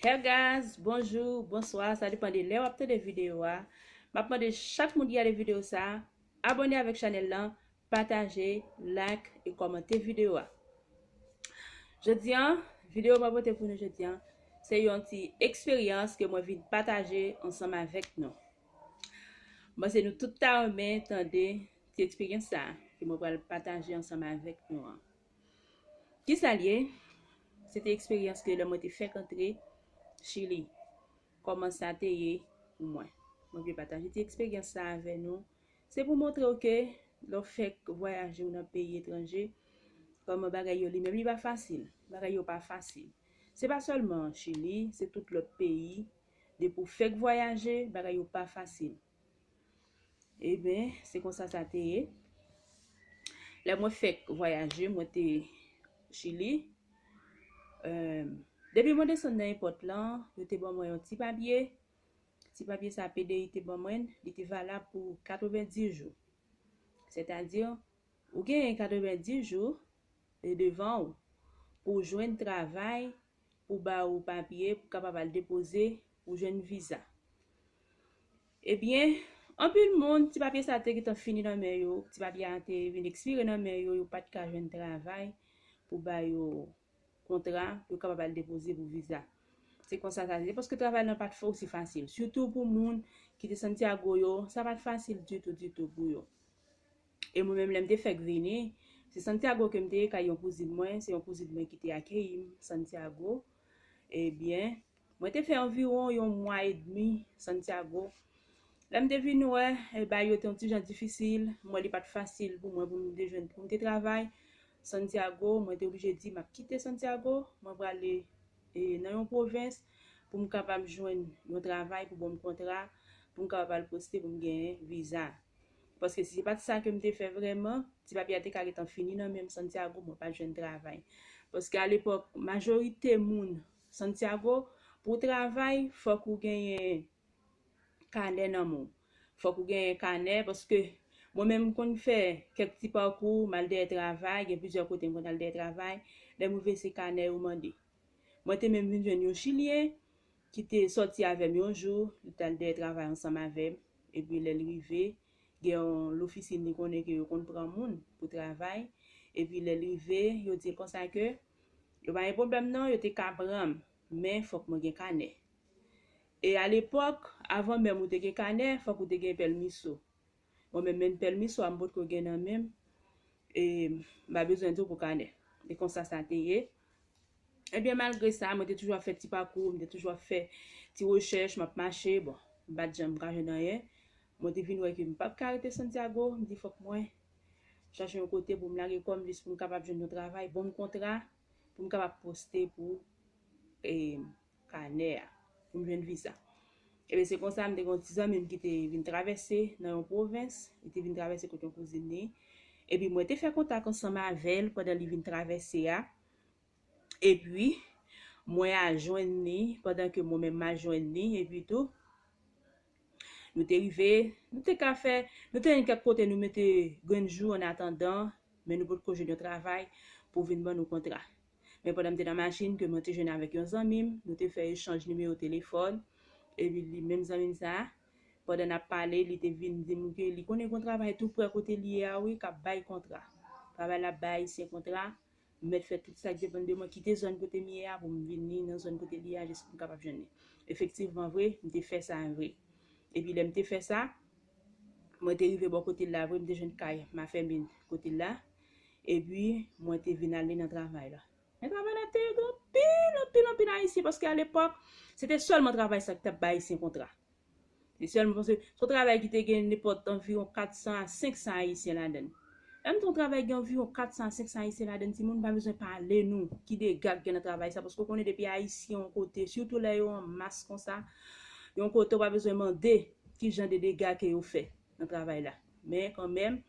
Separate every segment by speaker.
Speaker 1: Her guys bonjou bonswa sa depan de lè wap tande video a map mande chak moun ki gade video sa abone avèk chanèl lan pataje like e kòmante video a jodi an video mwen pote pou nou jodi an se yon ti eksperyans ke mwen vin pataje ansanm avèk nou mwen se nou tout ta renmen tande ti eksperyans sa ke mwen pral pataje ansanm avèk nou an Kisa l ye? Se te eksperyans ke lè mwen te fèk antre Chili, kòman sa te ye pou mwen. Mwen vle pataje ti eksperyans sa avè nou. Se pou montre w ke lè w fèk vwayaje ou nan peyi etranje, kòman bagay yo li menm li pa fasil. Bagay yo pa fasil. Se pa sèlman Chili, se tout lòt peyi, depi w fèk vwayaje, bagay yo pa fasil. Eben, se konsa sa te ye. Lè mwen fèk vwayaje, mwen te Chili. Ehm, depi mwen desann nan epòt lan, yo te ban mwen yon ti papye. Ti papye sa PDI te ban mwen, li te valab pou 90 jou. Sètadi, ou genyen 90 jou devan ou pou w jwenn travay pou ba ou papye pou kapab al depoze pou jwenn viza. Ebyen, anpil moun, ti papye sa te gentan fini nan men yo, ti papye a te vin ekspire nan men yo, yo pa t ka jwenn travay pou ba yo kontra pou yo kapab al depoze pou viza. Se konsa sa te ye, paske travay lan pa t osi fasil. Sitou pou moun ki te Santiago yo, sa pa t fasil ditou ditou pou yo. E mwen menm lè m te fèk vini, se Santiago ke m te ye kay yon kouzin mwen, se yon kouzin mwen ki te akeyi m Santiago. Ebyen, mwen te fè anviwon yon mwa edmi Santiago. Lè m te vin wè, bagay yo te yon ti jan difisil, m wè li pa t fasil pou mwen pou m te jwenn, pou m te travay Santiago. Mwen te oblije di m ap kite Santiago, mwen prale nan yon pwovens pou m kapab jwenn yon travay pou bon m kontra, pou m kapab al poste pou m gen viza. Paske si se pat sa kem te fè vrèman, ti papye a te ka gentan fini nan menm Santiago mwen pat jwenn travay. Paske a lepòk majorite moun Santiago pou travay fòk ou genyen kanè nan men w. Fòk ou genyen kanè paske mwen menm m konn fè kèk ti pakou m al dèyè travay, gen plizyè kote m konn al dèyè travay, lèm rive se kanè yo mande. Mwen te menm vin jwenn yon chilyen ki te sòti avè m yon jou, li t al dèyè travay ansanm avè m, epi lè l rive, gen yon lofisin li konnen ke yo konn pran moun pou travay, epi lè l rive, yo di l konsa ke, yo pa gen pwoblèm non, yo te ka pran m, men fòk mwen gen kanè. E alepòk, avan menm ou te gen kanè, fòk ou te gen pèlmiso. Mwen menm menm pèlmiso a m potko gen nan menm e m a bezwen di w pou kanè. E konsa sa te ye. Ebyen malgre sa mwen te toujou ap fè ti pakou, mwen te toujou ap fè ti rechèch, m ap mache, bon m pa t janm ka jwenn anyen. Mwen te vin wè ke m pap ka rete Santiago, m di fòk mwen chache yon kote pou m lage kò m jis pou m kapab jwenn yon travay, bon m kontra pou m kapab poste pou e. kanè a pou m jwenn viza. Ebyen se konsa m te gen yon ti zanmi m ki te vin travèse nan yon pwovens, li te vin travèse kot yon kouzin li, epi mwen te fè kontak ansanm avè l pandan li vin travèse a, epi mwen al jwenn li pandan ke mwen menm m al jwenn li, epi tou nou te rive, nou te ka fè, nou te jwenn kèk kote nou mete grenn jou annatandan, men nou potko jwenn yon travay pou vin ban nou kontra. Men pandan m te nan machin ke mwen te jwenn avèk yon zanmi m, nou te fè echanj nimewo telefòn, epi li menm zanmi m sa a, pandan n ap pale, li te vin di m ke li konnen gon travay tou prè kote li ye a wi k ap bay kontra. Travay la ap bay Ayisyen kontra, m mèt fè tout sa k depann de mwen, kite zòn kote m ye a pou m vini nan zòn kote li a jis pou m kapab jwenn li. Efektivman vre, m te fè sa vre. Epi lè m te fè sa, mwen te rive bò kote l la vre, m te jwenn kay Mafèmin kote l la, Epi, mwen te vin ale nan travay la. Nan travay la, te gen anpil, anpil, anpil Ayisyen, paske alepòk, se te sèlman travay sa ki t ap bay Ayisyen kontra. Se sèlman paske, se yon travay ki te gen nenpòt anviwon 400 a 500 Ayisyen ladan l. Lè m di yon travay gen anviwon 400 a 500 Ayisyen ladan l, timoun, m pa bezwen pale nou ki dega k gen nan travay sa, paske ou konnen depi Ayisyen yon kote, sitou lè yo an mas konsa, yon kote ou pa bezwen mande ki jan de dega ke yo fè nan travay la. Men, kanmenm,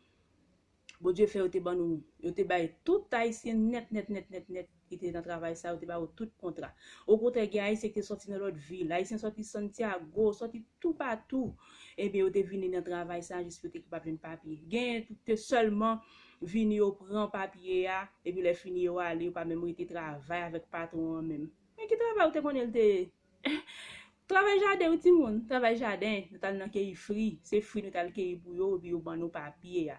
Speaker 1: Bondye fè yo te ban nou, yo te bay tout Ayisyen nèt nèt nèt nèt nèt ki te nan travay sa yo te ba yo tout kontra. Okontrè gen Ayisyen ki te sòti nan lòt vil, Ayisyen sòti Santiago, sòti toupatou, ebyen yo te vini nan travay sa jis pou yo te kapab jwenn papye. Genyen ki te sèlman vini yo pran papye a, epi lè fini yo ale yo pa menm rete travay avèk patwon an menm. Men ki travay ou te konnen li te ye? Travay jaden wi timoun, travay jaden, nou tal nan keyi fri, se fri nou tal keyi pou yo epi yo ban nou papye a.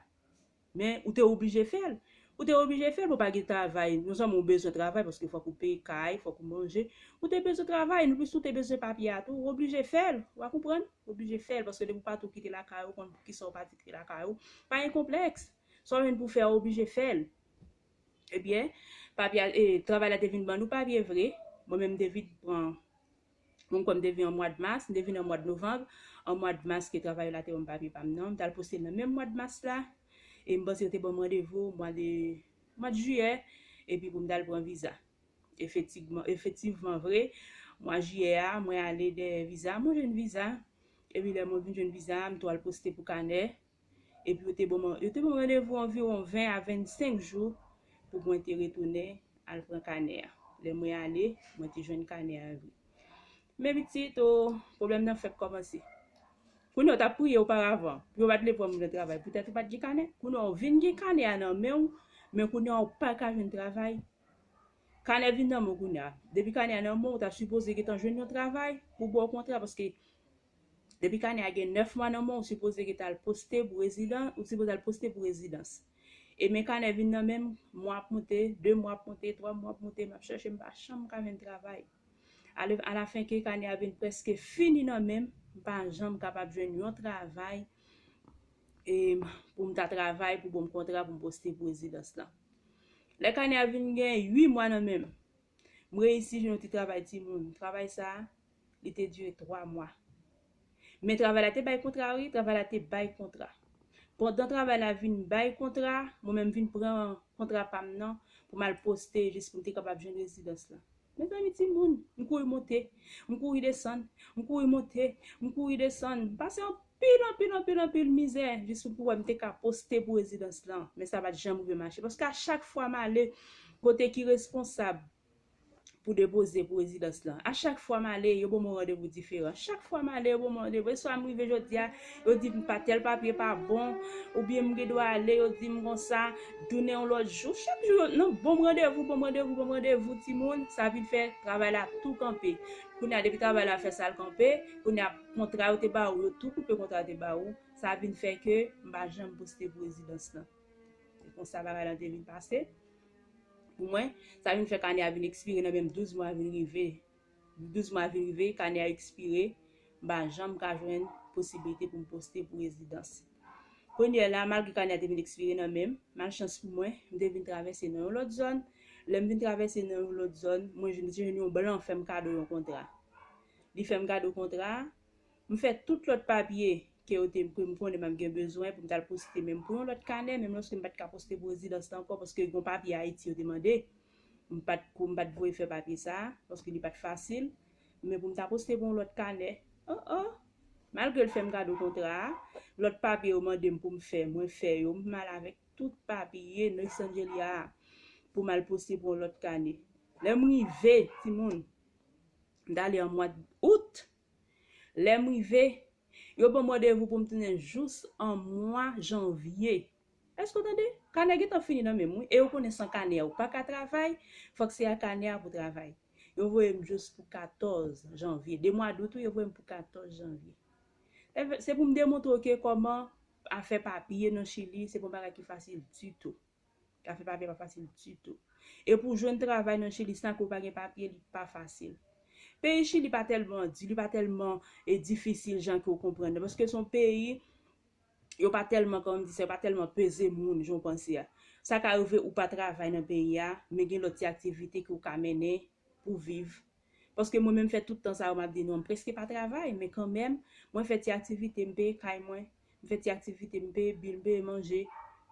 Speaker 1: Men ou te oblije fèl, ou te oblije fèl bon pa gen travay, non sèlman ou bezwen travay paske fòk ou peye kay, fòk ou manje, ou te bezwen travay, nou plis ou te bezwen papye a tou, ou oblije fèl, wa konprann, ou oblije fèl paske depi ou pa tou kite lakay ou, ou konn poukisa ou pa kite lakay ou, pa gen konplèks, sa w jwenn pou fè a ou oblije fèl. Ebyen, papye a, e, travay la te vin ban nou papye vre. Mwen menm m te vin pran, mwen kwè m te vin an mwad mas, m te vin an mwad novanb, an mwad mas ke travay yo la te ban m papye pa m nan. M t al poste l nan menm mwad mas la, e m panse yo te ban m randevou mwa de, mwad jiyè, epi pou m t al pran viza. Efetigman, efektivman vre, mwa jiyè a, mwen ale dèyè viza a, mwen jwenn viza, epi lè mwen vin jwenn viza a, m tou al poste pou kanè. epi yo te ban mwen yo te ban mwen randevou anviwon 20 a 25 jou pou mwen te retounen al pran kanè a. Lè mwen ale, mwen te jwenn kanè a vre. Men pitit, o, pwoblèm nan fèk kòmanse. Kounye a, w t ap priye oparavan pou yo pa t vle pran moun nan travay poutèt ou pa t gen kanè. Kounye a, w vin gen kanè a nan men w, men kounye a, w pa ka jwenn travay. Kanè vin nan men w kounye a. Depi kanè a nan men w, w ta sipoze gentan jwenn yon travay pou w ba w kontra paske Depi kanè a gen 9 mwa nan men w ou sipoze geta al poste pou rezidan ou sipoze al poste pou rezidans e men kanè vin nan menm mwa ap moute 2 mwa ap moute 3 mwa ap moute map chèche m pa janm ka jwenn travay ale alafen ke kanè a vin preske fini nan men m m pa janm kapab jwenn yon travay e pou m ta travay pou bonm kontra pou m poste pou rezidans lan lè kanè a vin gen 8 mwa nan men m m reyisi jwenn yon ti travay timoun travay sa li te dire 3 mwa. Men travay la te bay kontra wi, travay la te bay kontra. Pandan travay la vin bay kontra, mwen menm vin pran kontra pa m nan pou m al poste jis pou m te kapab jwenn rezidans lan. Mezanmi timoun, m kouri monte, m kouri desann, m kouri monte, m kouri desann, m pase anpil, anpil, anpil, anpil mizè jis pou m pou wè m te ka poste pou rezidans lan. Men sa pa t janm rive mache paske a chak fwa m ale kote ki responsab pou depoze pou rezidans lan. A chak fwa m ale, yo ban mwen randevou diferan. Chak fwa m ale, yo ban mwen randevou. E swa m rive jodi a, yo di m pa tèl papye pa bon, oubyen m gen dwa ale, yo di m konsa, tounen yon lòt jou. Chak jou, yo nan ban m randevou, ban m randevou, ban m randevou, timoun, sa vin fè travay la tou kanpe. Kounye a, depi travay la fè sa l kanpe, kounye a, kontra yo te ba ou, yo tou koupe kontra yo te ba ou. Sa vin fè ke m pa janm poste pou rezidans lan. Se konsa bagay lan te vin pase. Pou mwen, sa vin fè kanè a vin ekspire nan menm 12 mwa vin rive. 12 mwa vin rive, kanè a ekspire, m pa janm ka jwenn posiblite pou m poste pou rezidans. Konyè la, malgre kanè a te vin ekspire nan menm, malchans pou mwen, m te vin travèse nan yon lòt zòn. Lè m vin travèse nan yon lòt zòn, mwen jwenn yon blan fè m kado yon kontra. Li fè m kado kontra a, M fè tout lòt papye ke yo te ke m konnen m ap gen bezwen pou m t al poste menm pou yon lòt kanè, menm lòske m pa t ka poste pou rezidans lan ankò paske gon papye Ayiti yo te mande. M pa t ko m pa t voye fè papye sa a paske li pa t fasil. Men pou m ta poste pou yon lòt kanè, o o! Malgre l fè m kado kontra a, lòt papye yo mande m pou m fè, mwen fè yo. M al avèk tout papye Nois Angelia a pou m al poste pou yon lòt kanè. Lè m rive, timoun, m t ale an mwad Out. Lè m rive, yo ban m randevou pou m tounen jous an mwa janvye. Èske w tande? Kanè gentan fini nan men m wi e yo konnen san kanè a ou pa ka travay, fòk se a kanè a pou w travay. Yo voye m jous pou 14 janvye, 2 mwa dout wi, yo voye m pou 14 janvye. Se pou m demontre w ke kòman afè papye nan Chili se pa yon bagay ki fasil ditou. Afè papye pa fasil ditou. E pou w jwenn travay nan Chili san ke w pa gen papye li pa fasil. Peyi Chili pa tèlman di, li pa tèlman difisil jan ke w konprann nan. Paske se yon peyi yo pa tèlman, kòman m di sa, yo pa tèlman peze moun jan w panse a. Sa ka rive ou pa travay nan peyi a, men gen lòt ti aktivite ke w ka mennen pou w viv Paske mwen menm fè tout tan sa yo m ap di nou an, m prèske pa travay, men kanmèm, mwen fè ti aktivite, m peye kay mwen, m fè ti aktivite, m peye bil, m peye manje.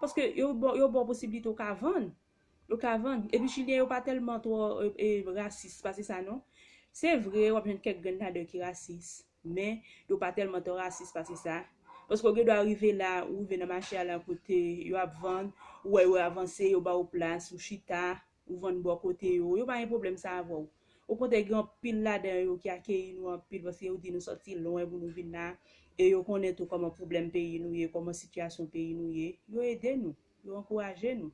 Speaker 1: Paske yo ba w, yo ba w posiblite ou ka vann. Ou ka vann. Epi chilyen yo pa tèlman twò e rasis, pa se sa non. Se vre, w ap jwenn kèk grenn ladan yo ki rasis, men, yo pa tèlman twò rasis, pa se sa. Paske ou gen dwa rive la, ou rive nan mache a la kote yo ap vann, ou wè yo avanse, yo ba ou plas, ou chita, Ou vann bò kote yo. Yo pa gen pwoblèm sa avè w. Okontrè gen anpil ladan yo ki akeyi nou anpil paske yo di nou sòti lwen pou nou vin la e yo konnen tou kòman pwoblèm peyi nou ye, kòman sitiyasyon peyi nou ye. Yo ede nou. Yo ankouraje nou.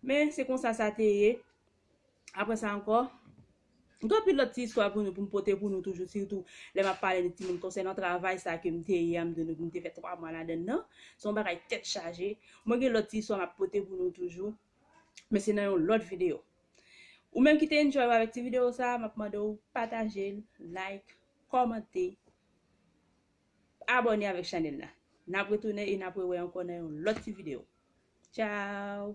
Speaker 1: Men, se konsa sa te ye. Apre sa ankò, gen anpil lòt ti istwa pou nou pou m pote pou nou toujou sitou lè m ap pale de timoun konsènan travay sa ke m te ye a m di nou ke m te fè twa mwa ladann nan. Se yon bagay tèt chaje. Mwen gen lòt ti istwa m ap pote pou nou toujou. Men se nan yon lòt video. Ou menm ki te enjoy ou avèk ti video sa a, map mande ou pataje l, like, kòmante, abòne avèk chanèl la. Nap retounen e nap rewè ankò nan yon lòt ti video. Ciao!